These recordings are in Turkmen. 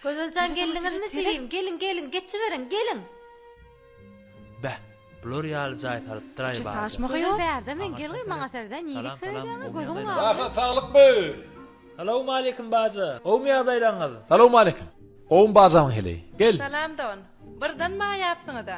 Gözeljan geldiňizmi jigim geliň geliň geçiberiň geliň. Beh bular ýaly jaý salypdyraý barda. Gözel bärde men gel gyz maňa serede nilik seredýäňä gözüň galdy. Rahat saglyk be. Salowmaleýkim baja. Gowmy ýagdaýlaryňyz? Salowmaleýkim. Gowmy bajamyň heleý. Gel. Salam don. Birden maňa ýapsyňyza.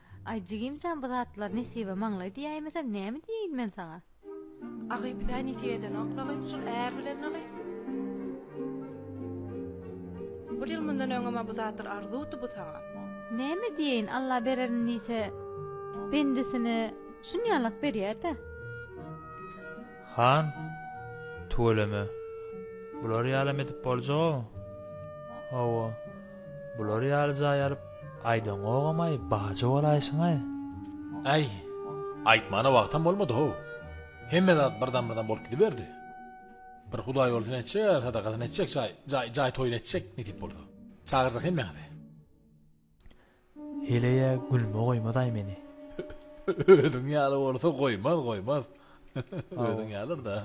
Aý jigim jan bu zatlar nesibe maňlaý diýäýmesem näme diýeýin men saňa. Agy bizä nesip edenok dagy şul är bilen dagy. Bir ýyl mundan öňem-ä bu zatlar arzuwdy bu saňa. Näme diýeýin Alla bererin diýse bendesine şunýalak berýär-dä. Han, Tüweleme. Bular ýalam edip boljag-ow. Hawa. Bular ýaly jaý alyp, aýdaňogam-aý, baja bolaýşyň-aý. Äý, aýtmana wagtam bolmady-how. Hemme zat birden-birden bolup gidiberdi. Bir hudaýýolsuny etjek, sadakasyny etjek, jaý, jaý, jaý toýuny etjek, nesip bolsa. Çagyrjak hemmäňizi. Heleýä gülme goýmazaý meni. Özüň ýaly bolsa goýmaz goýmaz. Özüň ýalyr-da.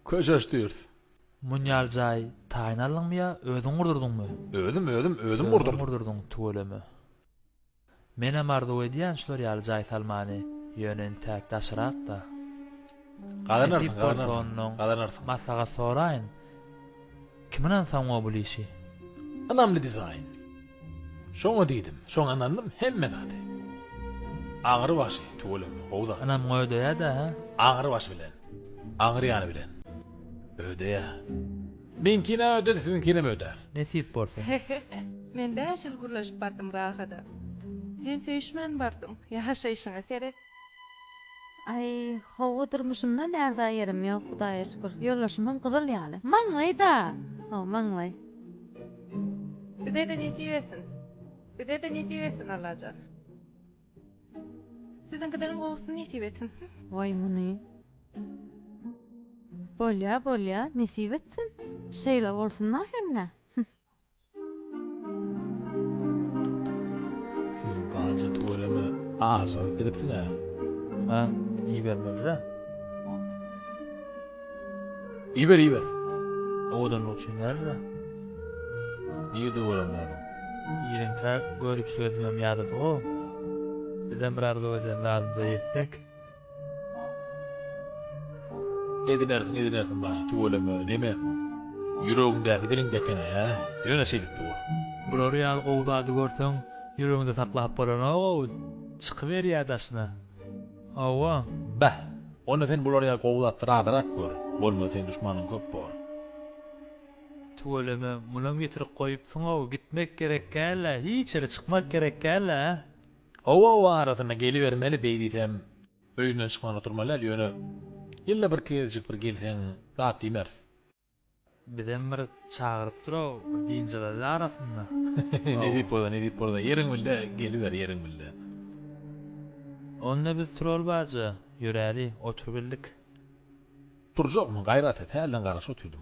Köşeşdiris. Munýal jaý taýyn aldyňmy ýa özüň gurdurdyňmy? Özüm özüm özüm gurdurdym. Özüň gurdurdyň tüweleme. Menem arzuw edýän şular ýaly jaý salmany, ýöne intäk daşrakda. Gazanarsyň, gazanarsyň, gazanarsyň. Maslahat soraýyn, kim ynansaňňo bul işi? Ynamly dizaýn. Şoňa diýdim, şoňa ynandym, hemme zady. Aňry başy, tüweleme, gowy zat. Ynamňa ödeýä-dä, hä? Aňry başy bilen, aňyrýany bilen. Ödeýä. Meňkine öde siziňkinem öde nesip bolsa. Men bäş ýyl gürleşip bardym gagada. Sen söýüşmän bardyň, ýaşaýşyňa seret. Aý howwa durmuşymda lärza ýerim ýok hudaýa şükür ýoldaşymam gyzyl ýaly maňlaý da hawa maňlaý. Bizede nesip etsin. Bizede nesip etsin Allajan. Siziňkidenem gowusyny nesip etsin. Waý muny. Bolýa bolýa nesip etsin. Şeýle bolsun ahyrynda. Siz baja tüweleme aşygyp gidipsiňä. Maňa ibermeli-dä. Iber iber. Owadanlyk üçin däldir-ä. Nirde bolam men? Ýeriňkä göripsiz özümem ýadady-ow. Bizem bir arzuw eden zadymyza ýetsek. Edinersiň edinersiň baş tüweleme deme. Ýüregiň däl diliň depene hä. Ýöne şeýdip dur. Bulary ýaly gowy zady görseň ýüregiňde saklap bolanok-ow. Çykyberýä daşyna. Hawa, bäh! Onda sen bular ýaly gowy zatlary azyrak gör, bolmasa seň duşmanyň köp bor. Tüweleme, munam ýitirik goýup syň-ow, gitmek gerek gäl-ä, hiç ýere çykmak gerek gäl-ä. Oba-oba arasyna gelibermeli, beýdisem, öýünden çykman oturmaly däl, ýöne ýylda bir gezjik bir gelseň, zat diýmeris. Bizem bir çagyryp duraw bir dynjalaly arasynda. Nesip bolsa nesip bolsa ýeriň bilde geliber ýeriň bilde. Onda biz Turol baja ýöräli oturybildik. Turjakmyň gaýraty hälden garaşyp otyrdym.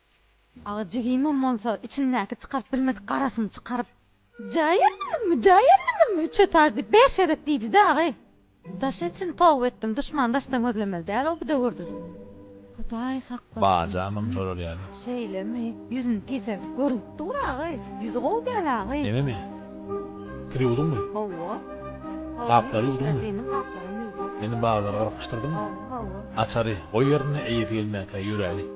Aga jigimem bolsa içindäki çykaryp bilmedik garasyny çykaryp Jaý ýerdiňizmi, jaý ýerdiňizmi, üç etaž diýip bäş gezek diýdi-de agaý. Daş etsin toba etdim, duşman daşdan gözlemeli däl ol bidöwürde. Hudaý hak bolsun. Bajamam şolar ýaly. Şeýlemi? Ýüzüni piserdip görünip dur agaý. Ýüzi gowy däl agaý. Nememi? Kir ýuwduňmy? Hawa. Gaplary ýuwduňmy? Işledinim gaplaram ýuwdum. Ýene baglary gyrkyşdyrdyňmy? Hawa, hawa. Açary goý ýerinde eýesi gelmäkä ýöräli.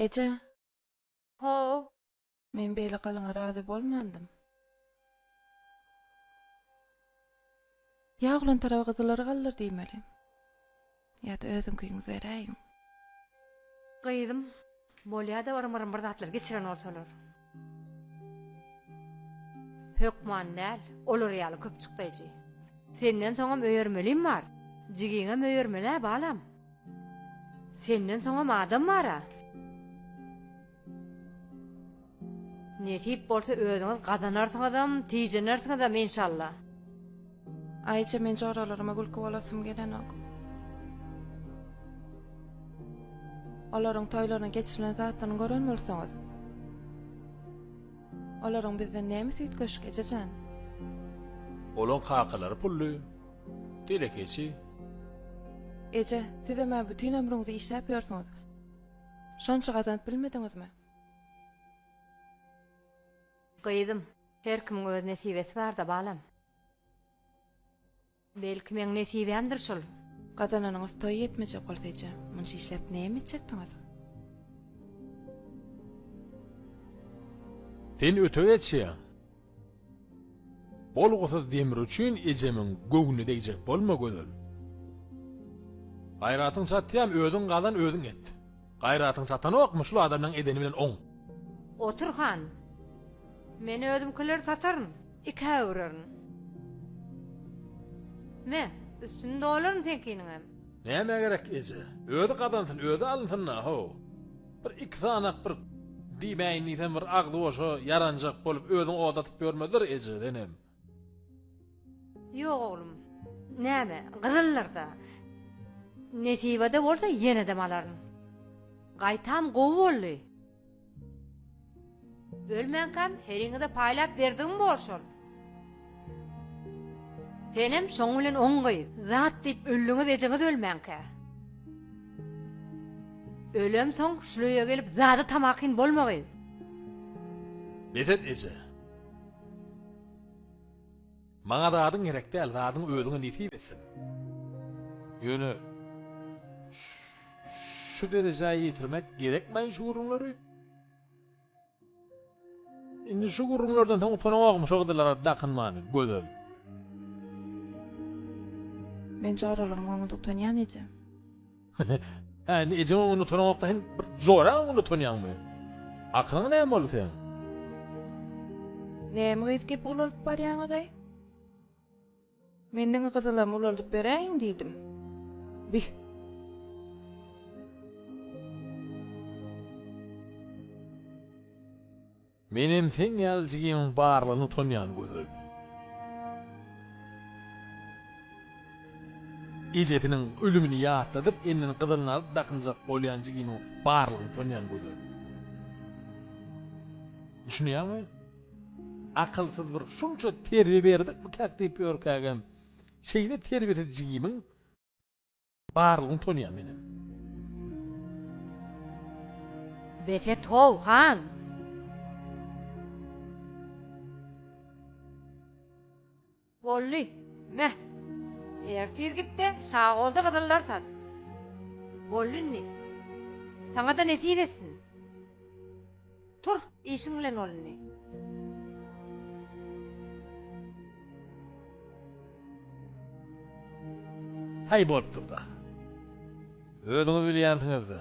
Eje! Ho-o! Men beýle gylyňa razy bolmandym. Ýa oglan tarap gyzylary galdyr diýmeli. Ýa-da özüňkiňi beräýiň. Gyzym, bolýa-da yrym-yrym bir zatlar geçiren bolsalar. Hökman däl, olar ýaly köp çykdaýjy. Senden soňam öýermelim bar. Jigiňem öýermeli-ä, balam. Senden soňam adam bar-a. Nesip bolsa özüňiz gazanarsyňyzam, tijenersiňizem enşalla. Aýje men joralaryma gülki bolasym gelenok. Olaryň toýlaryny geçirilen zatlaryny gören bolsaňyz. Olaryň bizden nämesi üýtgeşik ejejan. Olaň kakalary pully, telekeçi. Eje, sizem-ä bütin ömrüňizi işläp ýörsüňiz. Şonça gazanyp bilmediňizmi? Gyzym, her kimiň öz nesibesi bar-da, balam. Belki, meň nesibämdir şol. Gazananyňyz toýa ýetmejek bolsa eje, munça işläp näme etjekdiňiz? Sen ötegçi. Bolgusyz demir üçin ejemiň göwni degjek bolma Gözel. Gaýratyň çatýam özüň gazan özüň et. Gaýratyň çatanokmy şul adamlaň edeni bilen oň. Otur han. Men özümkileri sataryn. Ikä öwrerin. Me, üstüni dolaryn seňkiniňem. Nämä gerek eje. Özi gazansyn özi alynsynda ho. Bir iki sanak bir diýmäýin diýsem bir agzyboşa ýaranjak bolup özüň ot atyp ýörmezler eje senem. Ýok oglum. Näme, gyzyldyr-da. Nesibede bolsa ýenedem alaryn. Gaýtam gowy boldy. Ölmänkäm heriňize paýlap berdigim bor şol. Senem şoň bilen on gyz. Zat diýip öldiňiz ejeňiz ölmänkä. Ölemsoň şul öýe gelip zada tamakin bolma gyz. Bezet eje. Maňa zadyň gerek däl zadyň özüňe nesip etsin. Ýöne şu derejä ýetirmek gerekmaý şu gürrüňleri. Indi şu gürrüňlerden soň utanamokmy şu gyzylara dakynmany, Gözel? Men joralaryň öňünde utanýan eje. Hä, indi ejeň öňünde utanamok-da, sen bir joraň öňünde utanýaňmy? Akylyňa näme boldy seň? Näme gyz gepi ulaldyp barýaňyz-aý? Men diňe gyzylam ulaldyp beräýiň diýdim. Bih. Menem seň ýaly jigimiň barlygyna utanýan Gözel. Ejesiniň ölümini ýatladyp elinden gyzylyny alyp dakynjak bolýan jigimiň barlygyna utanýan Gözel. Düşünýäňmi? Akylsyz bir şunça terbiýe berdik bu käk diýip örkägem şeýle terbiýesiz jigimiň barlygyny tonyýan menem. Bes et how han. Boldy. Meh. Ertir git-de, şagolda gyzyllar sat. Boldy indi. Saňa-da nesip etsin. Tur, işiň bilen bol indi. Haý bolupdyr-da. Özüňiz bilýänsiňiz-dä.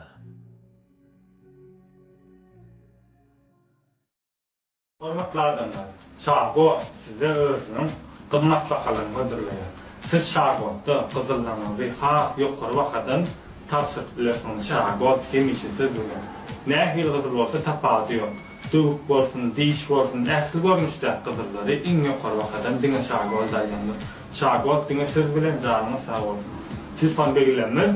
Hormatly adamlar! Şagor size özüniň gymmat bahalaryny hödürleýär. Siz Şagorda gyzyllaryňyzy has ýokary bahadan tabşyryp bilersiňiz. Şagor hemişe siz bilen. Nähili gyzyl bolsa tapawudy ýok. Döwük bolsun, diş bolsun, ähli görnüşdäki gyzyllary iň ýokary bahadan diňe Şagor daýandyr. Şagor diňe siz bilen, janyňyz sag bolsun! Telefon belgilemimiz.